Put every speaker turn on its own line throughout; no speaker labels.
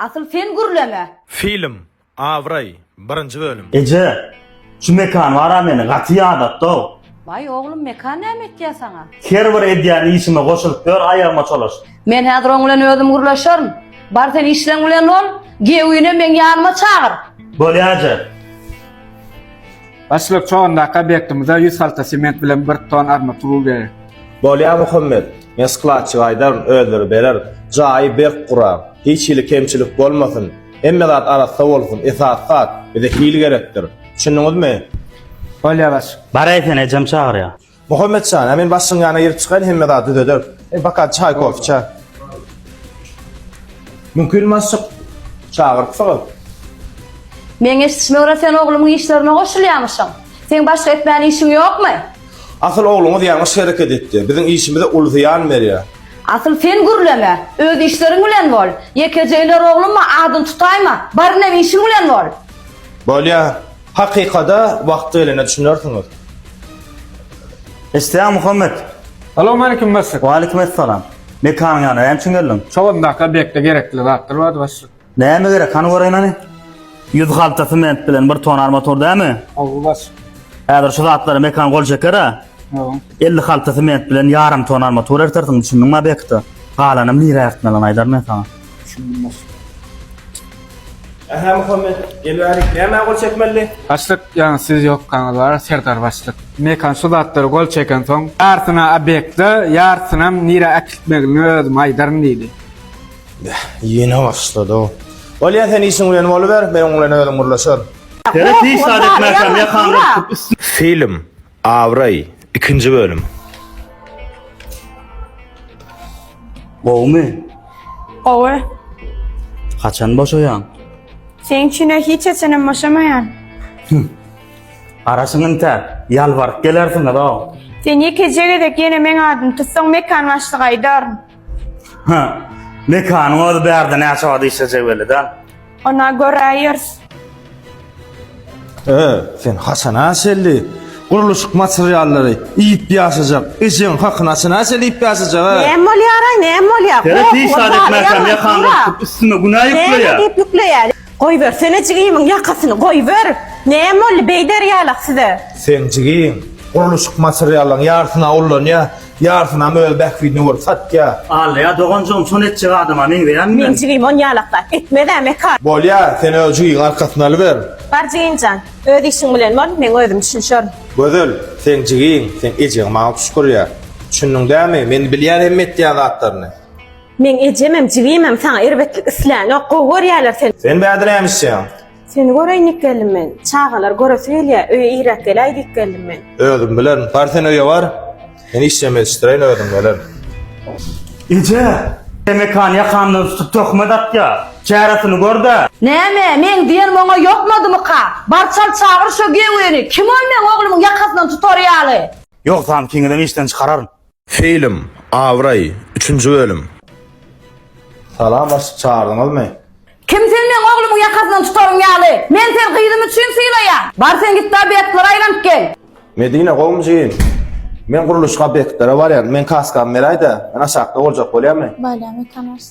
Asyl sen gürleme. Film, Abraý, birinji bölüm. Eje, şu Mekan bara meni gaty ýadatdau. Waý oglum Mekan näme etýä saňa? Her bir edýän işime goşulyp ýör aýagyma çolaş. Men häzir oň bilen özüm gürleşerin. Bar sen işleň bilen bol, Geowini meň ýanyma çagyr. Bolýa eje. Başlyk, Çogandaky obýektimize ýüz halta sement bilen bir ton armaturul gerek. Bolýar Muhammet, men skladçyga aýdaryn, özleri berer. Jaýy berk gura. Hiç hili kemçilik bolmasyn. Hemme zat arassa bolsun. Esasy zat, bize hil gerekdir. Düşündiňizmi? Bolýar başlyk. Baraýsyn, ejem çagyrýar. Muhammet jan, a men başyň ýana girip çykaýyn hemme zady düzederis. Hem bakan çaý kofe içer. Mümkin maşyk çagyrypsyňyz. Meň eşdişmegre sen oglumyň işlerine goşulýamyşyň. Seň başga etmän işiň ýokmy? Asyl ogluňyz ýalňyş hereket etdi. Biziň işimize uly zyýan berýär. Asyl sen gürleme. Öz işleriň bilen bol. Ýekeje iler oglumma adyny tutaýma. Barynem işiň bilen bol. Bolýar. Hakykada wagt gelende düşünersiňiz. Eşdýäň Muhammet. Salowmaleýkim başlyk. Waleýkim essalam. Mekanyň ýanyna näme üçin geldiň? Çogandaky obýektde gerekli zatlar bardy başlyk. Näme gerek hany göreýin hany. Ýüz halta sement bilen bir tona armatur dämi? Hawa başlyk. Häzir şu zatlara Mekan gol çeker a. Hawa. Elli halta sement bilen ýarym tona armatur ertersiň düşündiňmi obýekte. Galanam nirä ertmeliňi aýdaryn men saňa. Düşündim başlyk. Ähä Muhammet, gelibärik, nämä gol çekmelidi? Başlyk, ýaňy siz ýokkaňyz bar, Serdar başlyk. Mekan şu zatlary gol çekensoň, ýarsyny obýekte, ýarsynam nirä äkitmegilini özüm aýdaryn diýdi. Beh, ýene başlady-ow. Bolýa, sen işiň bilen boluber, men oň bilen özüm gürleşerin. Seret hiç zat etmäkäm, ýakamdan tutup üstüne. Film. Abraý, ikinji bölüm. Gowumy? Gowy. Haçan boşaýaň? Seň üçin-ä hiç haçanam boşamaýan. Garaşyň inte, ýalbaryp gelersiňiz-ow. Sen ýekeje gezek ýene meň adymy tutsaň mekan başlygy aýdaryn. Hä, mekanyň özi bärde näçe wagt işlejegi belli däl. Ona göräýer. Ö, sen haçan aşelli? Gurluşyk materiallary iýip ýaşajak. Ejeň hakyny haçan aşelli iýip ýaşajak? a? Näme bolýar-aý, näme bolýar? Ýere Goh, hiç zat goh, etmezsem, ýaman ýakamy bolýar. ýyrtyp, üstüme günä Näme ýükleýär. diýip ýükleýär? Goýbersene jigimiň ýakasyny, goýber. Näme boldy beý derýalak size? Seň jigiň gurluşyk materiallaryň ýarysyna ullanýar. Ýarsynam öz bähbidine görüp satýa. Alýa doganjygym şony etjek adama meňzeýämi men. Meň jigim on ýalakda etmezä mekar. Bolýa sen öz jigiňi arkasyna alyber. Bar jigimjan öz işiň bilen bol meň özüm düşünşerin. Gözel seň jigiň seň ejeň maňa puşgurýa düşündiň dämi men bilýän hemme etýän zatlaryny. Meň ejemem jigimem saňa erbetlik islänok gowy görýäler seni. Sen bäde näme işýäň. Seni göreýin diýip geldim men. Çagalar göresi gelýä, öýe irräk geläý diýip geldim men. Özüm bilerin. Bar sen öýe bar. Men işjem ýetişdireýin özüm gelerin. Eje! Temekany ýakamdan tutup töhmet atýa. Çäresini gör-dä! Näme, meň diýenim oňa ýokmadymyka? Bar çal çagyr şo gewgeni. Kim ol meň oglumyň ýakasyndan tutar ýaly? Ýogsam kiňizem işden çykararyn. Film, Abraý, üçünji bölüm. Salam başlyk çagyrdyngyzmy. Kim sen meň oglumyň ýakasyndan tutaryň ýaly. Men seni gyzym üçin sylaýan. Bar sen gitde obýektlere aýlanyp gel. Medine gowmy jigim. Men gurluşyk obýektlere barýan. Men kaskamy beräýdä. Men aşakda boljak bolýamy. Bolýamy tanas.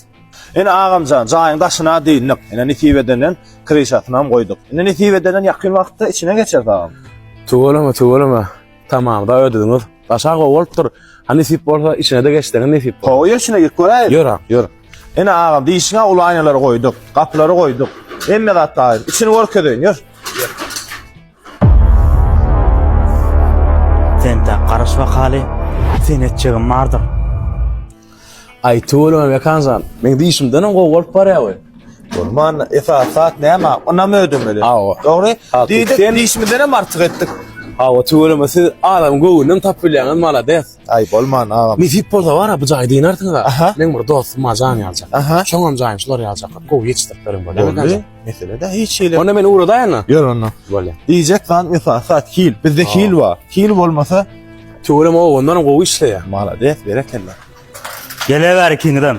Ine agamjan jaýyň daşyna dyndyk ine nesip edenden kryşasynam goýduk ine nesip edenden ýakyn wagtda içine geçeris agam. Tüweleme tüweleme. Tamam da ödediňiz. Başa go bolupdyr. Ha nesip bolsa içine de geçseňiz nesip. Ho, ýeşine git göräýiň. Ýör ha, ýör. Ene agam diýişiňe uly aýnalary goýduk, gapylary goýduk. Hemme zat taýyn. Içini görkezeýin, ýör. Sen tä garaş wakaly, sen etjegim bardyr. Aý tüweleme Mekanjan, meň diýşimdenem gowy bolup barýar we. Bolman, esasy zat näme? Ynam ödemeli. Hawa. Dogry? Hakykatdan. Diýdik, diýşimizdenem artyk etdik. Hawa tüweleme siz adamyň göwnünem tapyp bilýäňiz, malades. Aý bolman agam. Nesip bolsa bar-a bu jaýy diýnersiňiz-ä. Aha. Meň bir dostum bar, Janýalçak. Aha. Şoňam jaýyny şular ýaljak gowy ýetişdirip beriň bolýa. Boldy. Mesele de hiç şeyle. Onda men uğradaýan da. Ýör onda. Bolýa. Diýjek zat mesela sat hil. Bizde Aa. hil bar. Hil bolmasa Töwerem o ondan gowy işleýär. malades berekella. Gele bäri kiňden.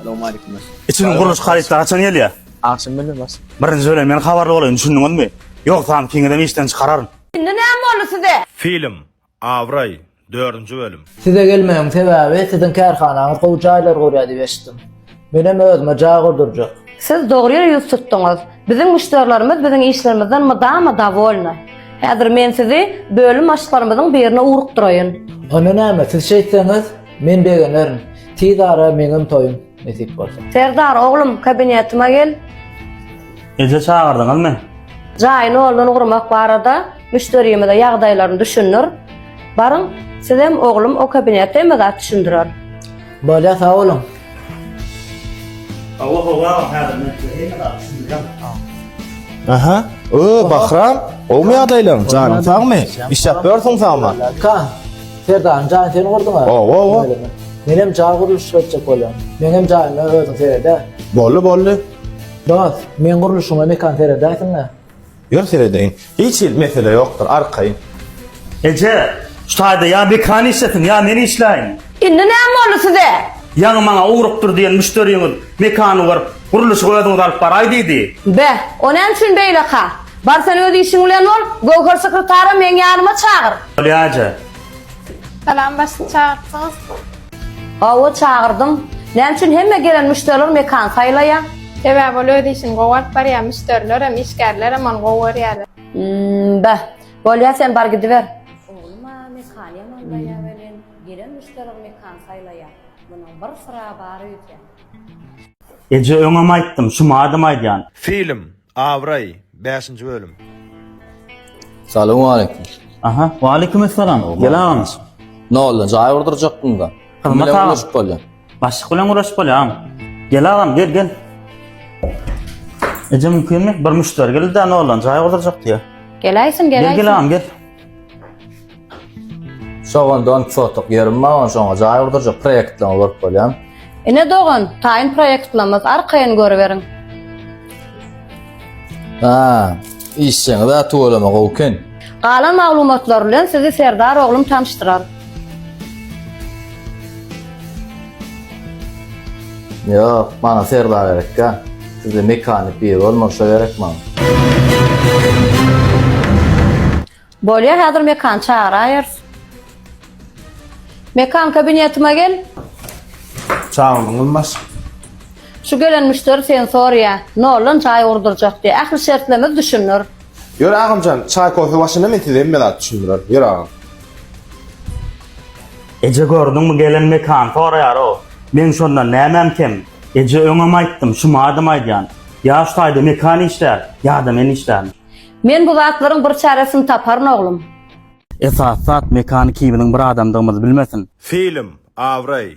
Assalamu alaykum. Içini gurluş harytda haçan gelýär? Akşam bilen bas. Birinji bilen men habarly bolaýyn, düşündiňizmi? Ýogsam kiňden işden çykararyn. Indi näme boldy size? Film. Abraý, dördünji bölüm. Size gelmegiň sebäbi siziň kärhanaňyz gowy jaýlar gurýar diýip eşitdim. Menem özüme jaý gurdurjak. Siz dogry ýere ýüz tutduňyz. Biziň müşderilerimiz biziň işlerimizden mydama dowolny. Häzir men sizi bölüm başlylarymyzyň birine ugrukdyraýyn. Onda näme, siz şeýtseňiz, men begenerin. Tiz ara meňem toýum. Nesip bolsa. Serdar oglum kabinetime gel. Eje çagyrdyňyz men. Jaýyny ýoldan gurmak barada müşderimize ýagdaýlaryny düşündir. Baryň sizem oglum o kabinete hemme zat düşündirer. Bolýar sag boluň. Hawa hawa agam häzir men size hemme zat düşündirýän. Aha öö Bahram gowmy ýagdaýlaň janyň sagmy işläp ýörsüň sagman. Ka. Serdanyň jaýyny sen gurduň-a? Hawa, hawa. Öýleme. Menem jaý gurluşyk etjek bolýan. Meňem jaýyma özüň sered-ä. Boldy, boldy. Dost, meň gurluşygyma mekan seredäýsiň-ä. Ýör seredeýin. Hiç hili mesele ýokdur, arkaýyn. Eje, şu taýda ýa Bekan işlesin, ýa men işläýin. Indi näme boldy size? Ýaňy maňa ugrukdyr diýen müşderiňiz mekany görüp, Gurluşygy özüňiz alyp baraý diýdi. Be, o näme üçin beýleka? Bar sen öz işiň bilen bol, Göwher sekretara meň ýanyma çagyr. Bolýaje. Salam, başga çagyrtdyňyzmy? Hawa, çagyrdym. Näme üçin hemme gelen müşderiler mekan saýlaýa? Sebäbi ol öz işini gowy alyp barýa, müşderilerem, işgärlerem ony gowy görýäler. Hmm, be, bolýa sen bar gidiber. Oglum-a mekan ýamanlaýa welin, gelen müşderiler mekan saýlaýa. Munuň bir syragy bar öýdýän. Eje öňem aýtdym şu madym aýdýan. Film, Abraý, bäşinji bölüm. Salowmaleýkim. Aha, waleýkumessalam. Gel agam. Noldan jaý urdurjakdyňda. Kim bilen guruşyp bolýar? Başlyk bilen guruşyp bolýar. Gel agam, gel, gel. Eje mümkinmi? Bir müşderi geldi-de noldan jaý urdurjakdy ýa. Gelaýsin, gelaýsin. Gel, gel agam, gel. Sogan don sotuk ýerim bar, ony şoňa jaý gurdurjak proýektleňi görüp bolýar. Ine dogan, taýyn proýektlemez, arkaýyn görüberiň. Ha, işjeňiz-ä tüweleme gowy eken. Galan maglumatlar bilen sizi Serdar oglum tanyşdyrar. Ýok, maňa serba gerek ýa. Sizde mekanik biri bolmaly şo gerek maňa. Bolýa häzir mekan çagyrayers. Mekan kabinetime gel. Çagyrdyňyz maşk. Şu gelen müşderi seni sorýa. Noldan jaý gurdurjak diýe. Ähli şertlerimiz düşündir. Ýör agamjan, çaý kofe başyna men size hemme zat düşündirerin. Ýör agam. Eje gördüňmi gelen mekan soraýarow. Meň şondan nämäm kem? Eje öňem aýtdym, şumadam aýdýan. Ýa şu taýda mekan işlär, ýa-da men işlän. Men bu zatlaryň bir çäresini taparyn oglum. Esasy zat mekany kimizň bir adamdygymyzy bilmesin. Film, abraý,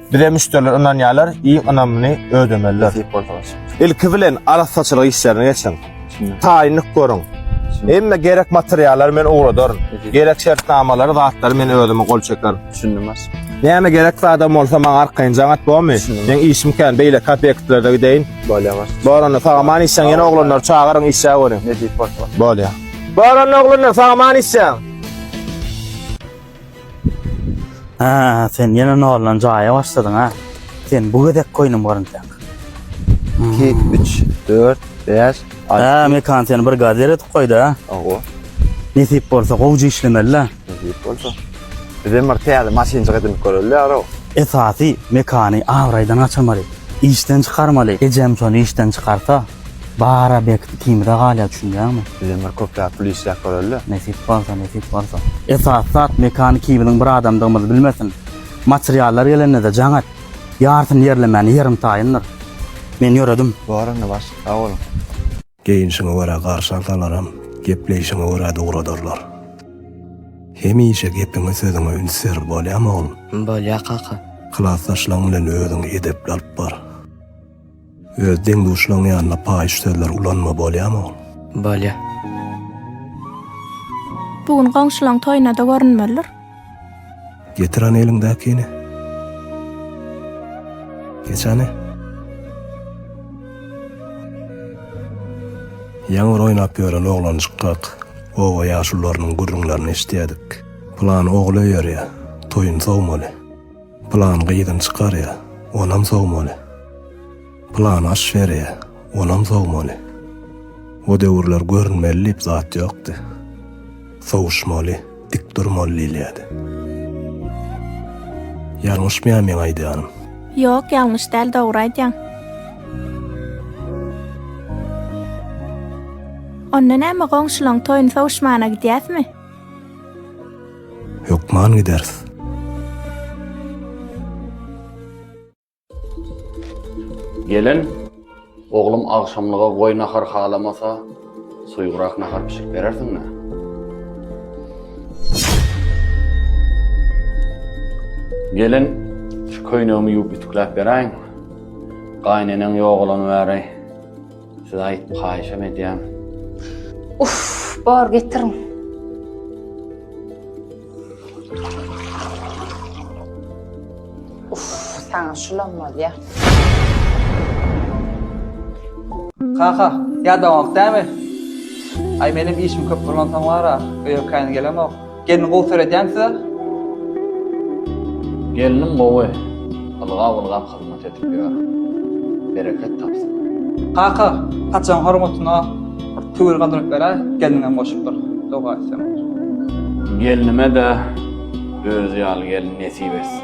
Bize müşderiler ynanýarlar, iň ynamlyny ödemeliler. Ilki bilen arassaçylyk işlerini geçiň. Taýynlyk görüň. Hemme gerek materiallary men ugradaryn. Gerek şertnamalary, zatlary men özüm gol çekerin. Düşündim baş. Näme gerek zadam bolsa maňa arkaýyn jaň at bormy? Meň işim kän, beýleki obýektlerde gideýin. Bolýar baş. Bar onda saňa many işleň ýene oglanlary çagyryň işe görüň. Bolýar. Bar onda oglanlar saňa many işleň. Haa sen ýene noldan jaýa başladyň ha. Sen bu gezek koýnum gyryntak. 2, 3, 4, 5, 6. Haa mekan seni bir gaz eretip koýdy ha. Oho. Nesip bolsa gowja işlemeli la. Nesip bolsa. Bizem bir täze maşynjyk edinip göreli ýaro. Esasy mekany abraýdan gaçyrmaly. Işden çykarmaly. Ejem şony işden çykarsa. Bara berk ikimize galýa düşünýäňmi. Bizem bir köpräk pul işläp görelidä. Nesip bolsa nesip bolsa. Esasy zat mekany kibiziň bir adamdygymyzy bilmesin. Materiallar gelendede jaň et. Ýarsyny ýerlemäni ýerim taýyndyr. Men ýöredim. Bar onda başlyk sag boluň. Geýinişiňe görä garşy alsalaram, gepleýşiňe göräde ugradarlar. Hemişe gepiňe sözüňe üns ber bolýamy oglum. Bolýa kaka. Klasdaşlaň bilen özüňi edepli alyp bar. Öz deň-duşlaň ýanyna paýyş sözler ulanma bolýamy ol. Bolýa. Bu gün goňşulaň toýuna-da görünmelidir. Getir hany eliňdäkini. Geç hany. Ýaňyr oýnap ýören oglanjykgak oba ýaşulularynyň gürrüňlerini eşidýädik. Pylan ogly öýerýä, toýun sowmaly. Plan gyzyny çykarýa, onam sowmaly. Plan aş berýä, onam sowmaly. O döwürler görünmeli diýip zat ýokdy. Sowuşmaly, dik durmaly diýilýärdi. Ýalňyşmýaryn meň aýdýanym? Ýok, ýalňyş däl, dogry aýdýaň. Onda näme, goňşulaň toýuny sowuşmana gidýäsmi? Hökman gideris. Gelen, oglum agşamlyga goý nahar halamasa, suýugrak nahar bişirip berersiň-dä. Gelen, şu köýnegimi ýuwup ütükläp beräýiň. Gaýyneneň ýogalany bäri. Size aýt haýyşam edýän. Uff bar getirin. Uff saňa şulam bolýa. Kaka, ýadaňok dämi? Aý menem işim köp bolansoň bar-a, öýe käýin gelemok. Gelin gowy seredýän size. Gelnim gowy, ylgap ylgap hyzmat edip ýör. Bereket tapsyn. Kaka saçaň hormatyna bir tüwel galdyryp beräý, gelniňem goşup bir doga etseň bolar. Gelnime-de özi ýaly gelin nesip etsin.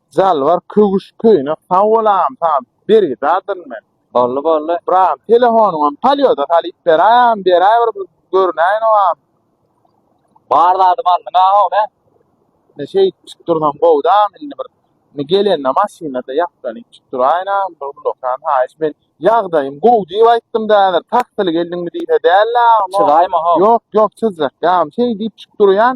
Jalbar köwüş köýnek sag bol agam saňa bergidardyryn men. Boldy boldy. Bir agam telefonyňam polýoda salyp beräý agam beräý bir bir görünäýenok agam. Bar zadymy aldyň aga ony. Ine şeýdip içip dursam gowy da agam indi bir indi gelende maşynada ýaplanyp içip duraýyn agam bir ullakan haýyş men ýagdaýym gowy diýip aýtdym da häzir taksili geldiňmi diýse dälde agam o. Çyzaýma ho. Ýok ýok çyzjak ýagam şeý diýip içip durýan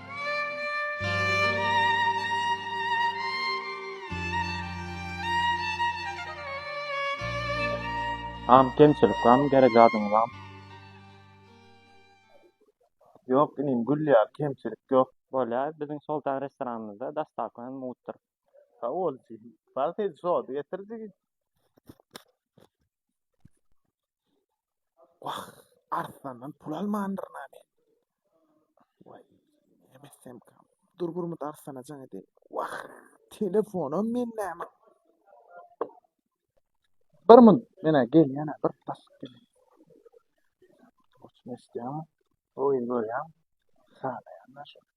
Am kemçilik bamy gerek zadyňyz am. Yok inim gül ya kemçilik yok. Bolya biziň soltan restoranymyzda dastawa hem mugtdyr. Sag bol jigim. Bal seni şo getirdi. Wah, Arslandan pul almandyr näme? Waý, näme kam. Dur Gurmut Arslana jaň edeýin. Wah, telefonam men näme? Bir mün, menä gelýän, bir basyp gelýän. Oçmestýan, oýun görýän, sanaýan şu.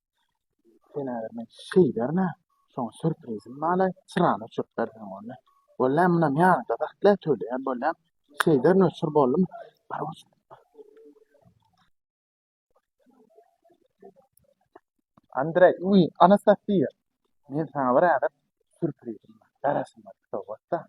Sen eger men şey berme, şoň sürprizim bala, çyrany öçürip berseň onda. Walla munam ýanyňda sakla, töleýän bolýan. Şeyden öçür boldum. Bar bolsun. Andrey, uy, Anastasiýa. Men sana bir ädip sürprizim bar. Garasyn bar, sowgatda.